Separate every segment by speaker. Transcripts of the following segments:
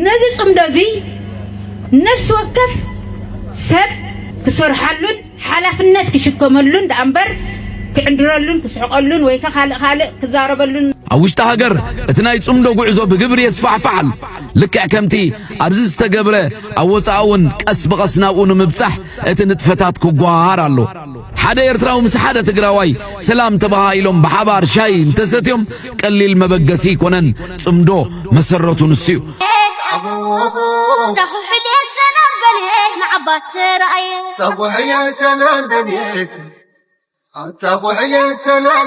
Speaker 1: ነዚ ጽምዶ እዚ ነፍሲ ወከፍ ሰብ ክሰርሓሉን ሓላፍነት ክሽከመሉን ደኣ እምበር ክዕንድረሉን ክስሕቀሉን ወይ ካልእ ካልእ ክዛረበሉን ኣብ ውሽጢ ሃገር
Speaker 2: እቲ ናይ ጽምዶ ጉዕዞ ብግብሪ የስፋሕፋሕ ኣሎ ልክዕ ከምቲ ኣብዚ ዝተገብረ ኣብ ወጻኢ እውን ቀስ ብቐስ ናብኡ ንምብጻሕ እቲ ንጥፈታት ክጓሃሃር ኣሎ ሓደ ኤርትራዊ ምስ ሓደ ትግራዋይ ሰላም ተበሃሂሎም ብሓባር ሻሂ እንተሰትዮም ቀሊል መበገሲ ኣይኮነን። ጽምዶ መሰረቱ ንሱ እዩ።
Speaker 3: ሰላም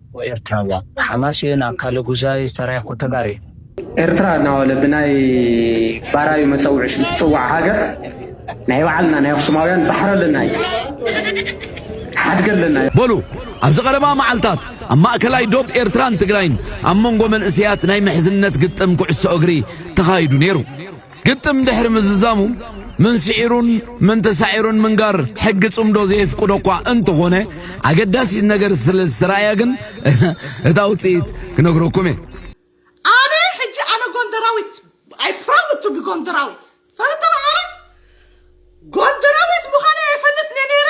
Speaker 4: ብ ኤርትራዋ ሓማሴን ኣካለ ጉዛይ ሰራየ ኩተጋር እዩ። ኤርትራ እናበለ ብናይ ባራዩ መጸውዒ ሽም ዝጽዋዕ ሃገር ናይ ባዕልና ናይ ኣኽሱማውያን ባሕሪ ኣለና እዩ። ሓድጊ ኣለና እዩ። በሉ ኣብዚ
Speaker 2: ቀረባ መዓልታት ኣብ ማእከላይ ዶብ ኤርትራን ትግራይን ኣብ መንጎ መንእሰያት ናይ ምሕዝነት ግጥም ኩዕሶ እግሪ ተኻይዱ ነይሩ። ግጥም ድሕሪ ምዝዛሙ መን ስዒሩን መን ተሳዒሩን ምንጋር ሕጊ ጽምዶ ዘየፍቅዶ እኳ እንተኾነ ኣገዳሲት ነገር ስለ ዝተራእያ ግን እታ ውጽኢት ክነግረኩም እየ።
Speaker 5: ኣነ ሕጂ ኣነ ጎንደራዊት ኣይ ፕራውድ ቱ ቢ ጎንደራዊት ፈለጠ መዓረ ጎንደራዊት ምዃነ የፈልጥ ነይረ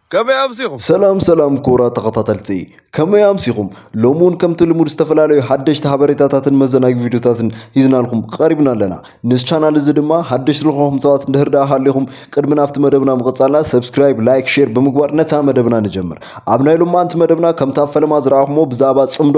Speaker 6: ከመይ ኣምሲኹም? ሰላም ሰላም ክቡራት
Speaker 7: ተኸታተልቲ ከመይ ኣምሲኹም? ሎሚ እውን ከምቲ ልሙድ ዝተፈላለዩ ሓደሽቲ ሓበሬታታትን መዘናጊ ቪድዮታትን ሂዝናልኩም ቀሪብና ኣለና። ንስ ቻናል እዚ ድማ ሓደሽቲ ዝኾንኩም ሰባት እንድህር ደኣ ሃሊኹም ቅድሚ ናብቲ መደብና ምቕጻልና ሰብስክራይብ፣ ላይክ፣ ሼር ብምግባር ነታ መደብና ንጀምር። ኣብ ናይ ሎማንቲ መደብና ከምቲ ኣብ ፈለማ ዝረኣኹሞ ብዛዕባ ጽምዶ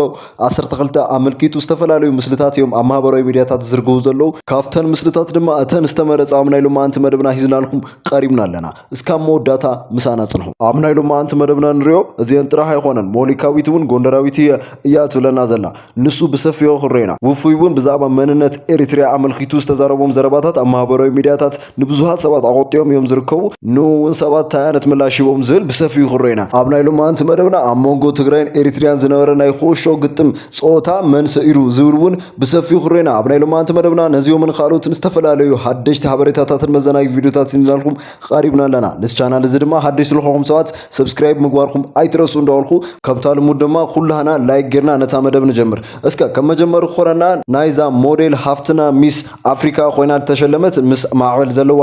Speaker 7: 12 ኣመልኪቱ ዝተፈላለዩ ምስልታት እዮም ኣብ ማህበራዊ ሚድያታት ዝዝርግሁ ዘለዉ። ካብተን ምስልታት ድማ እተን ዝተመረጻ ኣብ ናይ ሎማንቲ መደብና ሂዝናልኩም ቀሪብና ኣለና። እስካብ መወዳእታ ምሳና ጽንሑ። ኣብ ናይ ሎማዓንቲ መደብና ንሪኦ እዚኤን ጥራሕ ኣይኾነን ሞኒካዊት እውን ጎንደራዊት እየ እያ ትብለና ዘላ ንሱ ብሰፊሑ ክንሪኦ ኢና። ውፉይ እውን ብዛዕባ መንነት ኤሪትሪያ ኣመልኪቱ ዝተዛረቦም ዘረባታት ኣብ ማህበራዊ ሚድያታት ንብዙሃት ሰባት ኣቖጢዮም እዮም ዝርከቡ ንኡ እውን ሰባት ታይ ዓይነት ምላሽ ሂቦም ዝብል ብሰፊሑ ክንሪኦ ኢና። ኣብ ናይ ሎማዓንቲ መደብና ኣብ መንጎ ትግራይን ኤሪትሪያን ዝነበረ ናይ ኹእሾ ግጥም ጾታ መን ሰኢሩ ዝብል እውን ብሰፊሑ ክሬና ኣብ ናይ ሎማንቲ መደብና ነዚኦምን ካልኦትን ዝተፈላለዩ ሓደሽቲ ሓበሬታታትን መዘናጊ ቪድዮታት ስንላልኩም ቐሪብና ኣለና ነዚ ቻናል እዚ ድማ ሓደሽ ስለኾኹም ሰባት ሰብስክራይብ ምግባርኩም ኣይትረሱ እንዳበልኩ ከምታ ልሙድ ድማ ኩላህና ላይክ ጌርና ነታ መደብ ንጀምር። እስከ ከም መጀመሪ ክኾነና ናይዛ ሞዴል ሃፍትና ሚስ ኣፍሪካ ኮይና ዝተሸለመት ምስ ማዕበል ዘለዋ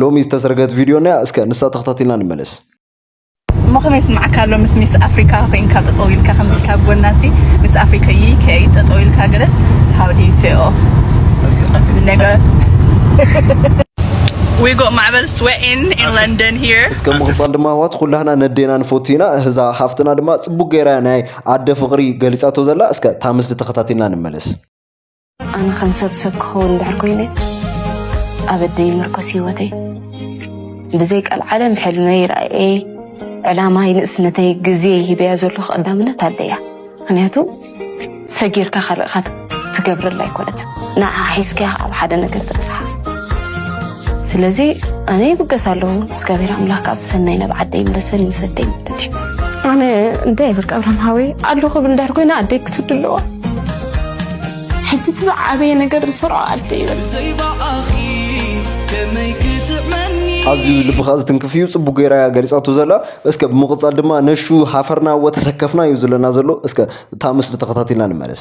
Speaker 7: ሎሚ ዝተሰርገት ቪድዮ ናያ እስከ ንሳ ተኸታቲልና ንመለስ። እሞ
Speaker 8: ከመይ ይስምዓካ ኣሎ ምስ ሚስ ኣፍሪካ ኮይንካ ጠጠው ኢልካ ከምዚ ኢልካ ኣብ ጎና ሲ ሚስ ኣፍሪካ ይይ ከይ ጠጠው ኢልካ ገለስ how do you feel ነገ We got Marvel sweating in London here. እስከ ምቕጻል ድማ ኣሕዋት
Speaker 7: ኩላህና ነዴና ንፈቱ ኢና እዛ ሃፍትና ድማ ጽቡቅ ገይራ ናይ ኣደ ፍቕሪ ገሊጻቶ ዘላ እስከ እታ ምስሊ ተኸታቲልና ንመለስ ኣነ
Speaker 9: ከም ሰብ ሰብ ክኸውን እንድሕር ኮይነ ኣብ ኣደይ ምርኮስ ህይወተይ ብዘይ ቀልዓለም ሕልመይ ራእየይ ዕላማይ ንእስነተይ ግዜ ሂበያ ዘለኹ ቀዳምነት ኣደያ ምክንያቱ ሰጊርካ ካልእካ ትገብረላ ኣይኮነት ንዓ ሒዝካያ ኣብ ሓደ ነገር ትበፅሓ ስለዚ ኣነ ይብገስ ኣለኹ እግዚኣብሔር ኣምላክ ኣብ ሰናይ ናብ ዓደይ ይምለሰኒ ምስ ኣደይ ማለት እዩ ኣነ እንታይ ይብል ኣብርሃም ሃወይ ኣሎ ክብል እንዳር ኮይና ኣደይ ክትውድ ኣለዋ ሕጂ እቲ ዝዓበየ ነገር ዝሰርዖ ኣደ ይበል ኣዝዩ ልብኻ ዝትንክፍ እዩ ፅቡቅ ገይራ እያ ገሊፃቶ ዘላ እስከ ብምቕፃል ድማ ነሹ ሃፈርና ወተሰከፍና እዩ ዝለና ዘሎ እስከ እታ ምስሊ ተኸታቲልና ንመለስ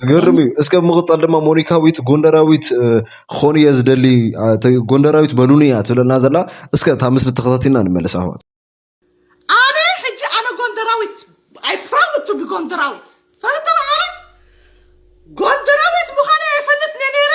Speaker 10: ዝገርም እዩ።
Speaker 7: እስከ ብምቕፃል ድማ ሞኒካዊት ጎንደራዊት ክኾኑ እየ ዝደሊ ጎንደራዊት በሉኒ እያ ትብለና ዘላ። እስከ እታ ምስሊ ተኸታቲልና ንመለስ ኣህዋት። ኣነ
Speaker 5: ሕጂ ኣነ ጎንደራዊት ኣይ ፕራውድ ቱ ቢ ጎንደራዊት ፈለጠ መዓረ ጎንደራዊት ምዃነ የፈልጥ ነይረ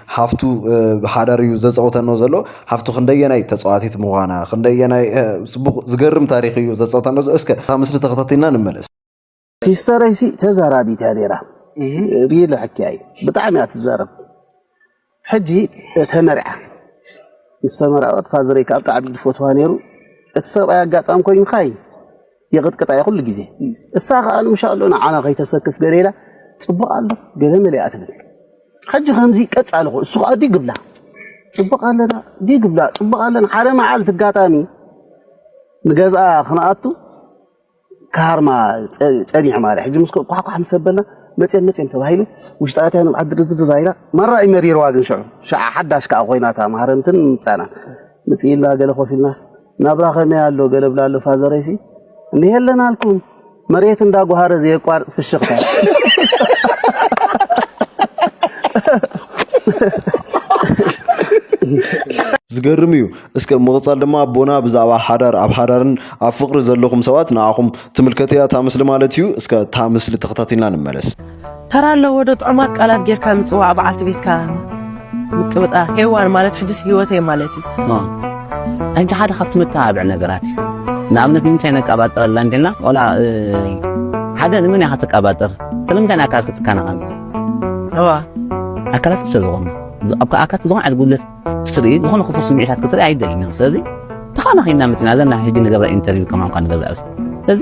Speaker 7: ሃፍቱ ብሓዳር እዩ ዘፀውተኖ ዘሎ ሃፍቱ ክንደየናይ ተፃዋቲት ምዃና ክንደየናይ ፅቡቅ ዝገርም ታሪክ እዩ ዘፀውተኖ ዘሎ እስከ እታ ምስሊ ተኸታቲልና ንመለስ ሲስተረይ
Speaker 11: ሲ ተዛራቢት እያ ነይራ ብይ ልሕኪያ እዩ ብጣዕሚ እያ ትዛረብ ሕጂ ተመርዓ ምስ ተመርዐወት ፋዘረይ ከዓ ብጣዕሚ ዝፈትዋ ነይሩ እቲ ሰብኣይ ኣጋጣሚ ኮይኑ ካይ ይቕጥቅጣ እያ ኩሉ ግዜ እሳ ከኣ እንሻሎ ንዓና ከይተሰክፍ ገለ ኢላ ጽቡቕ ኣሎ ገለ መሊኣ ትብል ሕጂ ከምዚ ቀጻሊ ኮ እሱ ከኣ ዲግ ብላ ጽቡቕ ኣለና ዲግ ብላ ጽቡቕ ኣለና ሓደ መዓልቲ ኣጋጣሚ ንገዝኣ ክንኣቱ ካርማ ጸኒሑ ማለት ሕጂ ምስ ኳሕኳሕ ምስ ኣበልና መጽም መጽም ተባሂሉ ውሽጢ ኣትያ ንብዓት ድርዝድር ዛይላ ማራ እዩ መሪርዋ ግን ሽዑ ሽዓ ሓዳሽ ከዓ ኮይናታ ማህረምትን ምምጻእና ምጽኢልና ገለ ኮፍ ኢልናስ ናብራ ከመይ ኣሎ ገለ ብላ ኣሎ ፋዘረይሲ እንዲህ የለን ኣልኩም መሬት እንዳጓሃረ ዘየቋርፅ ፍሽኽታ
Speaker 7: ዝገርም እዩ እስከ ምቕፃል ድማ ኣቦና ብዛዕባ ሓዳር ኣብ ሓዳርን ኣብ ፍቕሪ ዘለኹም ሰባት ንዓኹም ትምልከት እያ እታ ምስሊ ማለት እዩ እስከ እታ ምስሊ ተኸታቲልና ንመለስ ተራ ኣለዎ
Speaker 12: ዶ ጥዑማት ቃላት ጌርካ ምጽዋዕ በዓልቲ ቤትካ ምቅብጣር ሄዋን ማለት ሕጅስ ሂወተይ ማለት እዩ ኣንቺ ሓደ ካብቲ መተባብዒ ነገራት እዩ ንኣብነት ንምንታይ ነቀባጥረላ እንዲና ቆልዓ ሓደ ንመን ኢኻ ትቀባጥር ስለምንታይ ንኣካል ክትከናኸን እዋ ኣካላት ስለ ዝኾነ ኣብ ኣካላት ዝኾነ ዓይነት ጉድለት ክትርኢ ዝኾነ ክፉ ስምዒታት ክትርኢ ኣይደልናን ስለዚ ተኻናኺና ምትና ዘና ሕጂ ንገብረ ኢንተርቪው ከማን ኳ ንገዛእ ስለዚ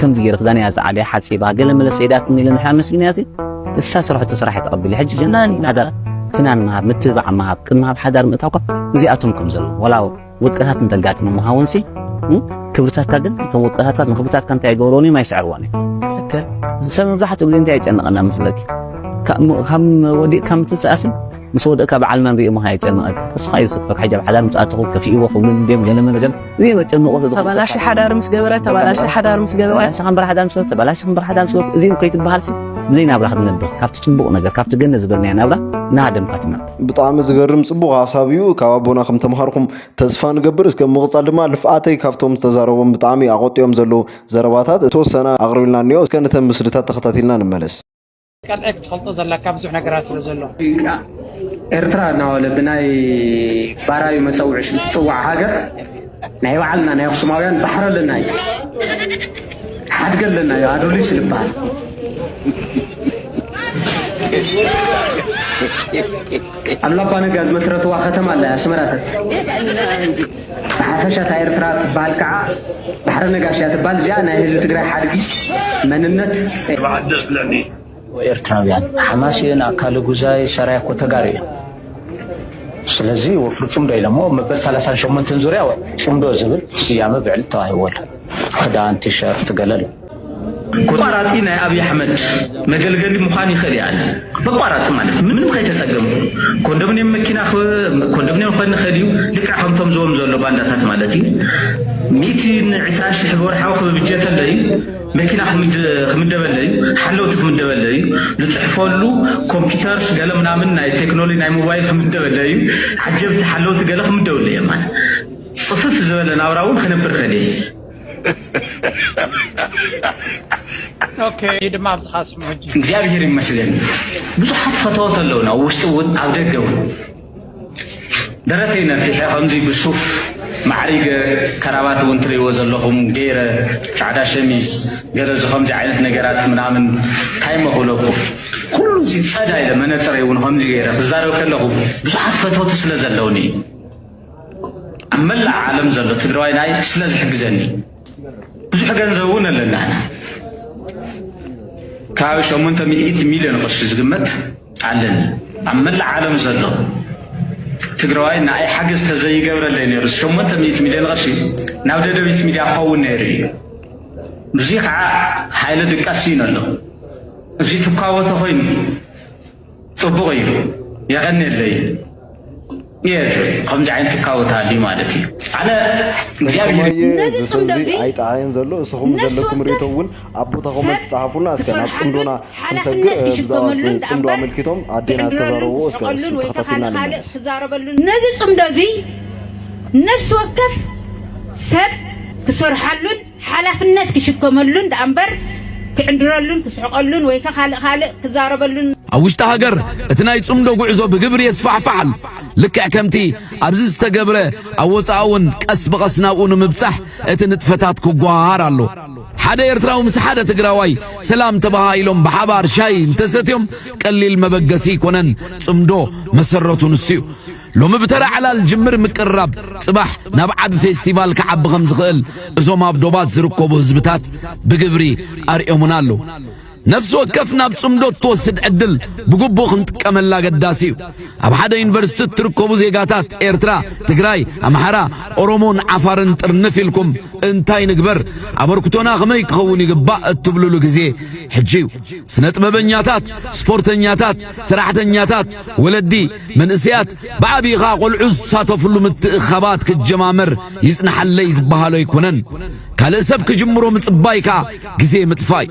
Speaker 12: ከምዚ ገይረ ክዳን እያ ዝዓልያ ሓፂባ ገለ መለ ሰይዳትኒ ኢለ ንሕና መስሊና እዚ እሳ ስራሕቶ ስራሕ ተቐቢለ ሕጂ ግን ሓዳር ክናን ምሃብ ምትብባዕ ምሃብ ቅድሚ ሃብ ሓዳር ምእታው እኳ እዚኣቶም ከም ዘለዉ ወላ ውድቀታት እንተጋጥሙ ምሃውን ሲ ክብርታትካ ግን እቶም ውድቀታትካ ንክብርታትካ እንታይ ይገብርዎን እዮም ኣይስዕርዎን እዮም ሰብ መብዛሕትኡ ግዜ እንታይ የጨንቐና መስለኪ ካብ ወዲቕካ ምትንስኣስን ምስ ወደእካ በዓል መን ሪኡ ምኻድ የጨንቐካ ተስፋ እዩ ዝሰፍር ሕጂ ኣብ ሓዳር ምስ ኣተኹ ከፊእዎ ክብሉ ድዮም ገለ መለ ገለ እዚኦም እዮም ጨንቆ ዝብሉ ተባላሺ ሓዳር ምስ ገበረ ተባላሺ ሓዳር ምስ ገበረ ተባላሺ ከምበር ሓዳር ምስ ተባላሺ ከምበር ሓዳር ምስ እዚኦም ከይትበሃልሲ ብዘይ ናብራ ክትነብር ካብቲ ጽቡቕ ነገር ካብቲ ገነት ዝበልናዮ ናብራ እናሃደምካ ትነብር ብጣዕሚ ዝገርም
Speaker 7: ጽቡቕ ሓሳብ እዩ ካብ ኣቦና ከም ተምሃርኩም ተስፋ ንገብር እስከ ምቕጻል ድማ ልፍኣተይ ካብቶም ዝተዛረቦም ብጣዕሚ ኣቖጢኦም ዘለዉ ዘረባታት እተወሰነ ኣቕሪብልና እኒኦ እስከ ነተን ምስልታት ተኸታቲልና ንመለስ ቀጥዒ ክትፈልጦ
Speaker 13: ዘለካ ብዙሕ ነገራት ስለ ዘሎ።
Speaker 4: ኤርትራ እናበለ ብናይ ባራዩ መጸውዒ ሽም ዝጽዋዕ ሃገር ናይ ባዕልና ናይ ኣኽሱማውያን ባሕሪ ኣለና እዩ፣ ሓድገ ኣለና እዩ፣ ኣዱሊስ ዝበሃል ኣብ ላባ ነጋ ዝመስረትዋ ከተማ ኣላ ኣስመራ ብሓፈሻ እታ ኤርትራ ትበሃል ከኣ ባሕረ ነጋሽ እያ ትበሃል እዚኣ ናይ ህዝቢ ትግራይ ሓድጊ መንነት እያ።
Speaker 6: ኤርትራውያን
Speaker 4: ሓማሴን ኣካለ ጉዛይ ሰራየ እኮ ተጋሩ እዮም ስለዚ ወፍሪ ጽምዶ ኢሎሞ መበል ሰላሳን ሸሞንተን ዙርያ ጽምዶ ዝብል ስያመ ብዕሊ ተዋሂብዎ ኣሎ ክዳን ቲሸርት ገለ ኣሎ ኣቋራፂ ናይ ኣብይ ኣሕመድ መገልገሊ ምዃን ይኽእል እያ በቋራፂ ማለት ምንም ከይተፀገምኩ ኮንዶሚኒየም መኪና ኮንዶሚኒየም ክኾን ይኽእል እዩ ልክዕ ከምቶም ዝዎም ዘሎ ባንዳታት ማለት እዩ ሚእቲ ንዕስራ ሽሕ ብወርሓዊ ክብብጀት ኣሎ እዩ መኪና ክምደበለ እዩ ሓለውቲ ክምደበለ እዩ ዝፅሕፈሉ ኮምፒውተርስ ገለ ምናምን ናይ ቴክኖሎጂ ናይ ሞባይል ክምደበለ እዩ ዓጀብቲ ሓለውቲ ገለ ክምደብሉ እዮም ማለት ፅፍፍ ዝበለ ናብራ እውን ክነብር ከል
Speaker 13: ኦኬ ድማ ኣብዝሓ ስምዑ ሕጂ። እግዚኣብሔር ይመስገን
Speaker 4: ብዙሓት ፈተወት ኣለውና ኣብ ውሽጢ እውን ኣብ ደገ እውን ደረተይ ነፊሐ ከምዚ ብሱፍ ማዕሪገ ከራባት እውን ትርእይዎ ዘለኹም ገይረ ፃዕዳ ሸሚዝ ገለ እዚ ከምዚ ዓይነት ነገራት ምናምን እንታይ እሞ ክብለኩም ኩሉ እዚ ፀዳ ኢለ መነፅረይ እውን ከምዚ ገይረ ክዛረብ ከለኹ ብዙሓት ፈተውቲ ስለ ዘለውኒ እዩ ኣብ መላእ ዓለም ዘሎ ትግራዋይ ናይ ስለ ዝሕግዘኒ ብዙሕ ገንዘብ እውን ኣለና ከባቢ ሸሞንተ ሚእቲ ሚልዮን ቅርሺ ዝግመት ኣለኒ ኣብ መላእ ዓለም ዘሎ ትግራዋይ ንኣይ ሓገዝ ተዘይገብረለይ ነይሩ ሸሞንተ ሚእቲ ሚልዮን ቅርሺ ናብ ደደቢት ሚድያ ክኸውን ነይሩ እዩ ብዙ ከዓ ሓይለ ድቃስ እዩ ኣሎ እዚ ትኳወተ ኮይኑ ጽቡቅ እዩ የቀኔለይ እየ ዝብል ከምዚ ዓይነት ትካቦ ተሃልዩ ማለት እዩ ኣነ እግዚኣብሔር እየ ነዚ ጽምዶ ዝስምዚ እዚ
Speaker 7: ኣይጠዓየን ዘሎ እስኹም ነፍሲ ዘለኩም ርእቶ ወከፍ እውን ኣብ ቦታ ሰብ ኮመንት ጸሓፉልና እስከ ናብ ክሰርሓሉን ጽምዶና ክንሰግእ ሓላፍነት እ፣ ብዛዕባ እዚ ክሽከመሉን ጽምዶ ደኣ'ምበር ኣመልኪቶም ኣዴና ክዕንድረሉን ዝተዛረብዎ እስከ ክስሕቀሉን እሱ ወይ ከዓ ተኸታቲልና ንኻልእ ንመለስ ክዛረበሉን ነዚ
Speaker 1: ጽምዶ እዚ ነፍሲ ወከፍ ሰብ ክሰርሓሉን ሓላፍነት ክሽከመሉን ደኣምበር ክዕንድረሉን ክስሕቐሉን ወይከ ካልእ ካልእ ክዛረበሉን። ኣብ ውሽጢ ሃገር
Speaker 2: እቲ ናይ ጽምዶ ጉዕዞ ብግብሪ የስፋሕፋሕ ኣሎ። ልክዕ ከምቲ ኣብዚ ዝተገብረ ኣብ ወጻኢ እውን ቀስ ብቐስ ናብኡ ንምብጻሕ እቲ ንጥፈታት ክጓሃሃር ኣሎ። ሓደ ኤርትራዊ ምስ ሓደ ትግራዋይ ሰላም ተባሃሂሎም ብሓባር ሻሂ እንተሰትዮም ቀሊል መበገሲ ኣይኮነን። ጽምዶ መሰረቱ ንሱ እዩ። ሎሚ ብተራ ዕላል ጅምር ምቅርራብ ጽባሕ ናብ ዓቢ ፌስቲቫል ክዓቢ ከም ዝኽእል እዞም ኣብ ዶባት ዝርከቡ ህዝብታት ብግብሪ ኣርእዮሙና ኣለዉ። ነፍሲ ወከፍ ናብ ጽምዶ እትወስድ ዕድል ብግቡእ ክንጥቀመላ ኣገዳሲ እዩ። ኣብ ሓደ ዩኒቨርሲቲ እትርከቡ ዜጋታት ኤርትራ፣ ትግራይ፣ ኣምሓራ፣ ኦሮሞን ዓፋርን ጥርንፍ ኢልኩም እንታይ ንግበር፣ ኣበርክቶና ከመይ ክኸውን ይግባእ እትብሉሉ ግዜ ሕጂ እዩ። ስነ ጥበበኛታት፣ ስፖርተኛታት፣ ሰራሕተኛታት፣ ወለዲ፣ መንእሰያት ብዓቢኡ ከኣ ቆልዑ ዝሳተፍሉ ምትእኽኻባት ክጀማመር ይጽናሓለይ ዝበሃሎ ኣይኮነን። ካልእ ሰብ ክጅምሮ ምጽባይ ከኣ ግዜ ምጥፋእ'ዩ።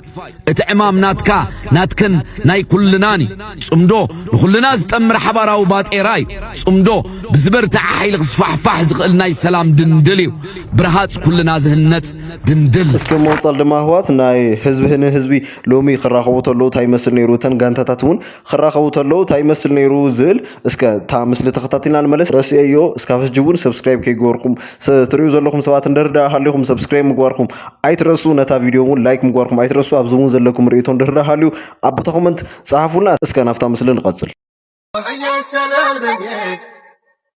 Speaker 2: እቲ ዕማም ናትካ፣ ናትክን ናይ ኩልናን እዩ። ጽምዶ ንኹልና ዝጠምር ሓባራዊ ባጤራ እዩ። ጽምዶ ብዝበርትዐ ሓይሊ ክስፋሕፋሕ ዝኽእል ናይ ሰላም ድንድል እዩ። ብረሃጽ ኩልና ዝህነጽ ድንድል። እስከ ብመቕጸል ድማ
Speaker 7: ኣህዋት ናይ ህዝቢ ንህዝቢ ሎሚ ክራኸቡ ተለዉ ታይ ይመስል ነይሩ እተን ጋንታታት እውን ክራኸቡ ተለው ታይ ይመስል ነይሩ ዝብል እስከ እታ ምስሊ ተኸታቲልና ንመለስ ረስኤዮ እስካብ ሕጂ እውን ሰብስክራይብ ከይገበርኩም ትሪኡ ዘለኹም ሰባት እንድህር ዳ ሃሊኹም ሰብስክራይብ ምግባርኩም ኣይትረሱ ነታ ቪድዮ እውን ላይክ ምግባርኩም ኣይትረሱ ኣብዚ እውን ዘለኩም ርእይቶ እንድህር ዳ ሃልዩ ኣብ ቦታ ኮመንት ጸሓፉልና እስከ ናብታ ምስሊ ንቐጽል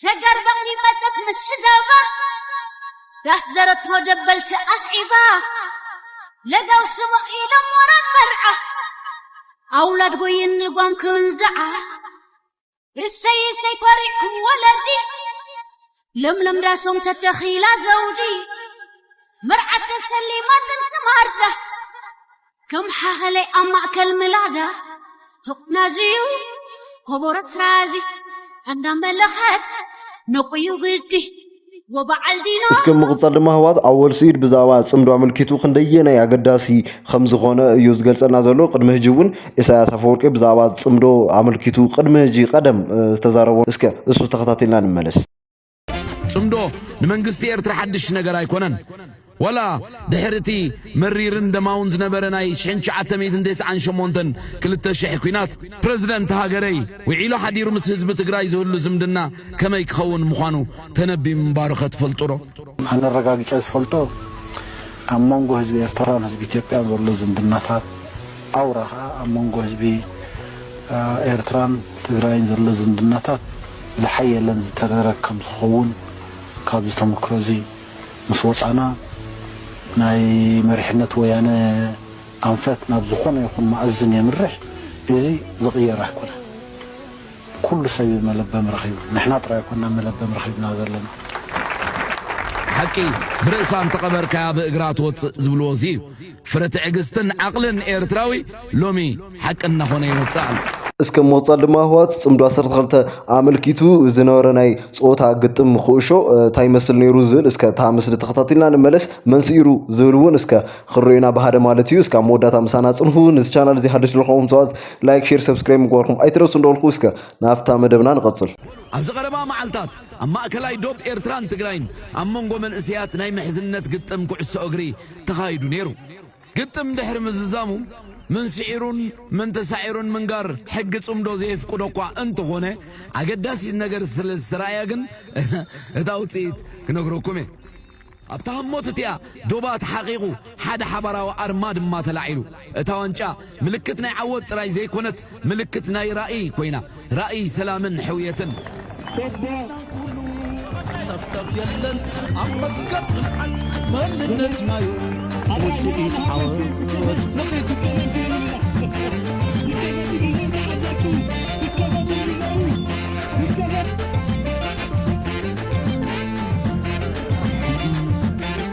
Speaker 14: ሰገር በቕሊ መጸት ምስ ሕዛባ ዳስ ዘረቶ ደበልቲ ኣስዒባ ለጋው ስሙቕ ኢሎም ወራን መርዓ ኣውላድ ጎይን ልጓም ክንዝዓ እሰይ እሰይ ኮሪዕኩም ወለዲ ለምለም ዳሶም ተተኺላ ዘውዲ መርዓት ተሰሊማ ጥንቂ ማርዳ ከም ሓኸለይ ኣብ ማእከል ምላዳ ተቆናዝዩ ኮቦሮ ስራዚ ኣንዳ መለኸት ነቁዩ ግዲ ወበዓል ዲና እስከ ምቕጻል ድማ ህዋት
Speaker 7: ኣወል ስኢድ ብዛዕባ ጽምዶ ኣመልኪቱ ክንደየናይ ኣገዳሲ ከም ዝኾነ እዩ ዝገልጸልና ዘሎ ቅድሚ ህጂ እውን ኢሳያስ ኣፈወርቂ ብዛዕባ ጽምዶ ኣመልኪቱ ቅድሚ ህጂ ቀደም ዝተዛረቦ እስከ እሱ ተኸታቲልና ንመለስ ጽምዶ
Speaker 2: ንመንግስቲ ኤርትራ ሓድሽ ነገር ኣይኮነን። ወላ ድሕሪ እቲ መሪርን ደማውን ዝነበረ ናይ 1998 ክልተ ሽሕ ኲናት ፕረዚደንት ሃገረይ ውዒሉ ሓዲሩ ምስ ህዝቢ ትግራይ ዝህሉ ዝምድና ከመይ ክኸውን ምዃኑ ተነቢ ምንባሩኸ ትፈልጡዶ? ኣነ ኣረጋጊጸ
Speaker 11: ዝፈልጦ ኣብ መንጎ ህዝቢ ኤርትራን ህዝቢ ኢትዮጵያን ዘሎ ዝምድናታት ኣውራ ከኣ ኣብ መንጎ ህዝቢ ኤርትራን ትግራይን ዘሎ ዝምድናታት ዝሓየለን ዝተረረ ከም ዝኸውን ካብዚ ተመክሮ እዚ ምስ ወጻእና ናይ መሪሕነት ወያነ ኣንፈት ናብ ዝኾነ ይኹን መኣዝን የምርሕ እዚ ዝቕየር ኣይኮነን ኩሉ ሰብ እዩ መለበሚ ረኺቡ ንሕና ጥራይ ኣይኮናን መለበሚ ረኺብና ዘለና።
Speaker 2: ሓቂ ብርእሳ እንተቐበርካያ ብእግራ ትወጽእ ዝብልዎ እዚ እዩ። ፍረ ትዕግስትን ዓቕልን ኤርትራዊ ሎሚ ሓቂ እናኾነ ይመጽእ ኣሎ። እስከ ምቕጻል
Speaker 7: ድማ ህወሓት ጽምዶ ዓሰርተ ክልተ ኣመልኪቱ ዝነበረ ናይ ጾታ ግጥም ኩእሾ እንታይ ይመስል ነይሩ ዝብል እስከ እታ ምስሊ ተኸታቲልና ንመለስ መን ስኢሩ ዝብል እውን እስከ ክንሪኦ ኢና ብሃደ ማለት እዩ እስከ ኣብ መወዳእታ ምሳና ጽንሑ ነዚ ቻናል እዚ ሓድሽ ዝለኹም ሰባት ላይክ ሼር ሰብስክራይብ ምግባርኩም ኣይትረሱ እንደበልኩ እስከ ናብታ መደብና ንቐጽል ኣብዚ ቀረባ
Speaker 2: መዓልታት ኣብ ማእከላይ ዶብ ኤርትራን ትግራይን ኣብ መንጎ መንእሰያት ናይ ምሕዝነት ግጥም ኩዕሶ እግሪ ተኻይዱ ነይሩ። ግጥም ድሕሪ ምዝዛሙ መን ስዒሩን መን ተሳዒሩን ምንጋር ሕጊ ጽምዶ ዘየፍቅዶ'ኳ እንተኾነ፣ ኣገዳሲት ነገር ስለ ዝተራእያ ግን እታ ውጽኢት ክነግረኩም'የ። ኣብታ ህሞት እቲኣ ዶባት ሓቒቑ ሓደ ሓባራዊ ኣርማ ድማ ተላዒሉ። እታ ዋንጫ ምልክት ናይ ዓወት ጥራይ ዘይኮነት ምልክት ናይ ራእይ ኮይና ራእይ ሰላምን ሕውየትን ጀግና ኩሉ ዝጠብጠብ የለን ኣብ መስገር ጽንዓት መንነትናዩ ውጽኢት ዓወት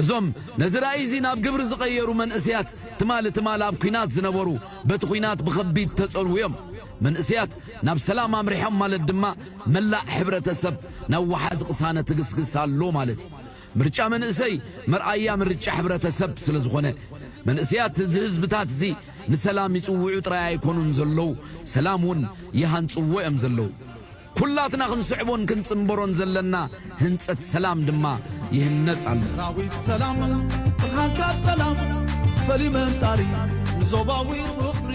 Speaker 2: እዞም ነዚ ራእይ እዚ ናብ ግብሪ ዝቐየሩ መንእሰያት ትማሊ ትማሊ ኣብ ኲናት ዝነበሩ በቲ ዂናት ብኸቢድ ተጸልዉ እዮም። መንእሰያት ናብ ሰላም ኣምሪሖም ማለት ድማ መላእ ሕብረተሰብ ናብ ወሓዚ ቅሳነት እግስግስ ኣሎ ማለት እዩ። ምርጫ መንእሰይ መርኣያ ምርጫ ሕብረተሰብ ስለ ዝኾነ መንእሰያት እዚ ህዝብታት እዚ ንሰላም ይጽውዑ ጥራይ ኣይኮኑን ዘለዉ ሰላም እውን ይሃንጽዎ እዮም ዘለዉ። ኩላትና ክንስዕቦን ክንጽንበሮን ዘለና ህንጸት ሰላም ድማ ይህነጽ ኣሎ። ሰራዊት ሰላም ብርሃንካ ጸላም ፈልዩ መንጣሪ ንዞባዊ ፍቕሪ።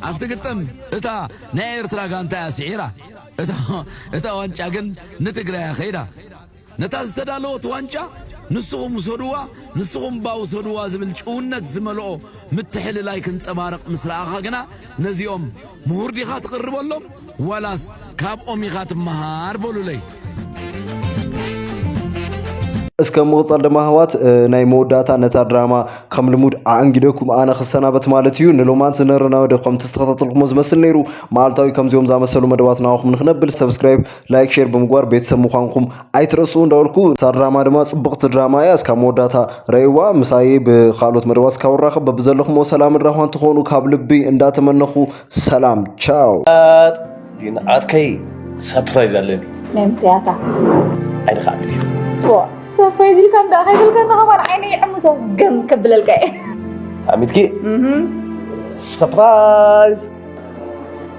Speaker 2: ኣብቲ ግጥም እታ ናይ ኤርትራ ጋንታ እያ ስዒራ እታ ዋንጫ ግን ንትግራይ እያ ከይዳ። ነታ ዝተዳለወት ዋንጫ ንስኹም ውሰዱዋ፣ ንስኹም'ባ ውሰዱዋ ዝብል ጭውነት ዝመልኦ ምትሕልላይ ክንጸባረቕ ምስ ረኣኻ ግና፣ ነዚኦም ምሁር ዲኻ ትቕርበሎም ዋላስ ካብኦም ኢኻ ትመሃር በሉለይ።
Speaker 7: እስከ ብምቕጻል ድማ ኣሕዋት ናይ መወዳእታ ነታ ድራማ ከም ልሙድ ኣኣንጊደኩም ኣነ ክሰናበት ማለት እዩ ንሎማንት ዝነበረና መደብ ከምቲ ዝተኸታተልኩሞ ዝመስል ነይሩ መዓልታዊ ከምዚኦም ዝኣመሰሉ መደባት ናባኹም ንክነብል ሰብስክራይብ ላይክ ሼር ብምግባር ቤተሰብ ምዃንኩም ኣይትረስኡ እንዳበልኩ እታ ድራማ ድማ ጽብቕቲ ድራማ እያ እስካብ መወዳእታ ረእይዋ ምሳይ ብካልኦት መደባት እስካብ ንራኸብ በብዘለኹሞ ሰላምን ራህዋን ትኾኑ ካብ ልቢ እንዳተመነኹ ሰላም ቻው ግን
Speaker 15: ዓርከይ ሰፕራይዝ ኣለኒ ናይ ምክያታ
Speaker 9: ዓይኒ ከዓ
Speaker 15: ዓቢት እዩ ሰፕራይዝ
Speaker 9: ኢልካ እንዳ ከይብልካ ንኸማን ዓይነ ይዕምሶ ገም ከብለልካ እየ ኣሚትኪ
Speaker 15: ሰፕራይዝ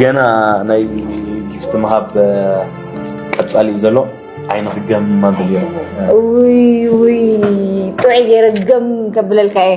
Speaker 15: ገና ናይ ጊፍቲ ምሃብ ቀፃሊ እዩ ዘሎ ዓይኒ ክገም ማብል እዮ
Speaker 9: ጥዑይ ገይረ
Speaker 15: ገም
Speaker 9: ከብለልካ እየ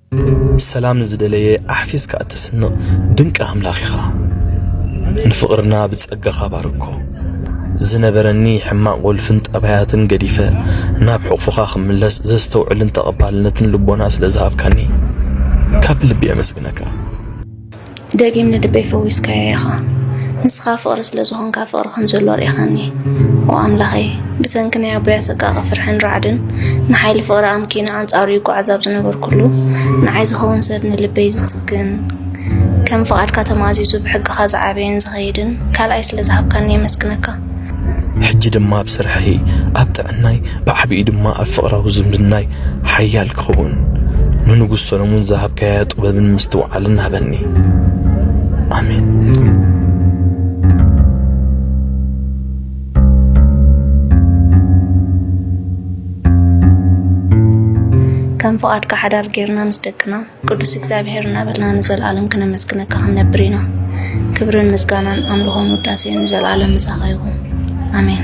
Speaker 16: ሰላም ንዝደለየ ኣሕፊስካ እተስንቕ ድንቂ ኣምላኽ ኢኻ። ንፍቕርና ብጸጋኻ ባርኮ። ዝነበረኒ ሕማቕ ወልፍን ጠባያትን ገዲፈ ናብ ሕቕፍኻ ክምለስ ዘስተውዕልን ተቐባልነትን ልቦና ስለ ዝሃብካኒ ካብ ልቢ የመስግነካ።
Speaker 9: ደጊም ንልበይ ፈዊስካዮ ኢኻ ንስኻ ፍቕሪ ስለ ዝኾንካ ፍቕሪ ከም ዘሎ ኣርኢኻኒ ኦ ኣምላኸይ ብሰንኪ ናይ ኣቦይ ኣሰቃቒ ፍርሕን ራዕድን ንሓይሊ ፍቕሪ ኣምኪነ ኣንጻሩ ይጓዓዝ ኣብ ዝነበርኩሉ ንዓይ ዝኸውን ሰብ ንልበይ ዝጽግን ከም ፍቓድካ ተማእዚዙ ብሕግኻ ዝዓበየን ዝኸይድን ካልኣይ ስለ ዝሃብካኒ የመስግነካ ሕጂ
Speaker 16: ድማ ኣብ ስርሐይ ኣብ ጥዕናይ ብዓቢኡ ድማ ኣብ ፍቕራዊ ዝምድናይ ሓያል ክኸውን ንንጉስ ሰሎሞን ዝሃብካያ ጥበብን ምስትውዓልን ሃበኒ ኣሜን
Speaker 9: ከም ፍቓድካ ሓዳር ጌርና ምስ ደቅና ቅዱስ እግዚኣብሔር እናበልና ንዘለዓለም ክነመስግነካ ክንነብር ኢና። ክብርን ምስጋናን ኣምልኾን ውዳሴን ንዘለዓለም ምሳኻ ይኹን ኣሜን።